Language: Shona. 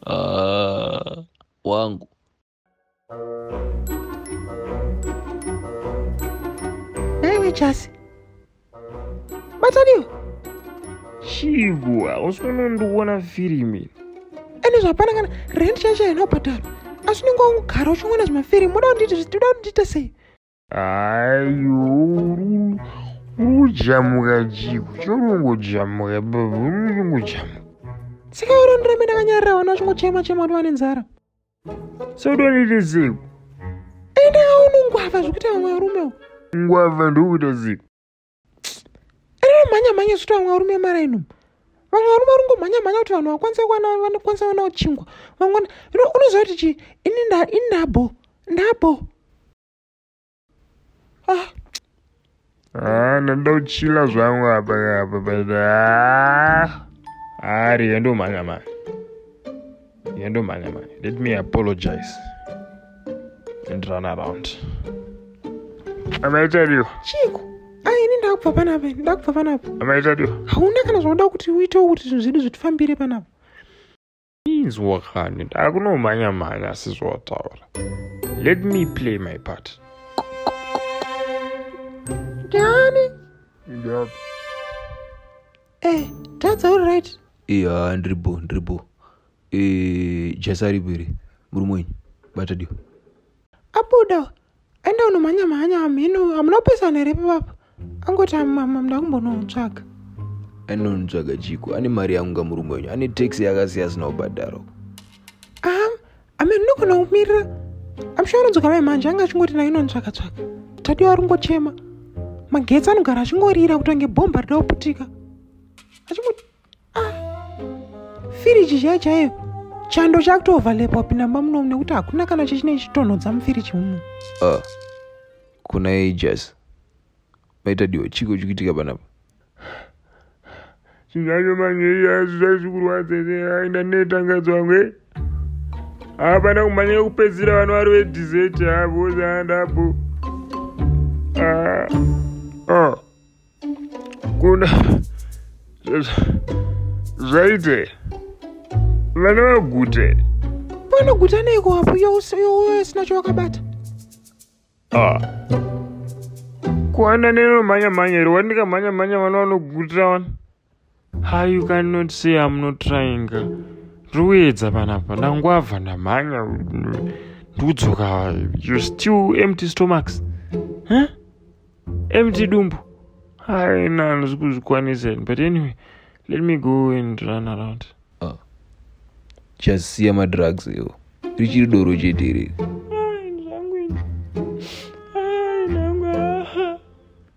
Ah, wangu naiwe chasi bataniwe chigo hausi kunondiona firimi ende zvapana kana rent yacho haina kubhadharwa asi unenge wangogara uchingoona zvimafirimu uda kunditi uda kundita sei Ayo urujamuka chiku chorongojamuka babarongojamuka saka urondoramba ndakanyarira vana vachingochema chema kuti vane nzara sodonite ziku enda unongwava zvekuti vamwe varume u ngwava ndokuita ziku enda mhanya mhanya zvekuti vamwe varume mara ino vamwe varume varungomhanya mhanya kuti vanhu vakwanise kuwana vanokwanisa kuwana kuchingwa vamwe unoziva kuti chii ini ndabo ndabo ah. Ah, ndoda kuchila zvangu apa apa ah. ari yandomhanya mhanya yandomhanya mhanya let me apologize and run around amaitariwa chiko aini ndakubva panapa ndakubva panapa amaitariwa hauna kana zvauda kuti uitewo kuti zvinhu zvedu zvitifambire panapa inzwa kani ndakunomhanya mhanya asi zvawataura let me play my part ndani ndani eh tadza uri right iya ndiri bo ndiri bo eh jasa ripo iri murume wenyu bata dio abuda enda unomhanya mhanya hamheno hamuna kupesana here pepapa angoti amama mda kumbonotsvaga anonitsvaga chiko ane mari yangu nga murume wenyu ane taxi yakasiya asina kubhadharo am ame ndinogona kumirira amsha anodzoka mai mhanje anga achingoti nayo inonitsvaga tsvaga tadi wari kungochema magetsi anogara achingorira kutange bhomba rida kuputika achingoti ah, firiji chaiyo chaiyo chando chakutoovhalepa wapinda mba munomu nekuti hakuna kana chechinei chitonhodza mufiriji umu ah, kuna ages maita diwa chiko chikuitika panapa zvinhu zvacho manje zvaizvi zvikurwadza aenda netangadzwa nge eh? hapana kumhanya yekupedzisira vano vari vedizeti havo zaandapo ah. ah. kuna zvaite vana vagute vanoguta neiko wapo iyo usina chawakabata ah. kuana nenomhanya mhanya iri wandikamhanya mhanya vana vanogutira vana ha you cannot say am not trying ndikuedza panapa ndangwabva ndamhanya ndikudzoka you still empty stomachs huh? empty dumbu haina handisi kuzvikwanisa but anyway let me go and run around ah. chasiya uh, madrugs iwo richiri doro chete iri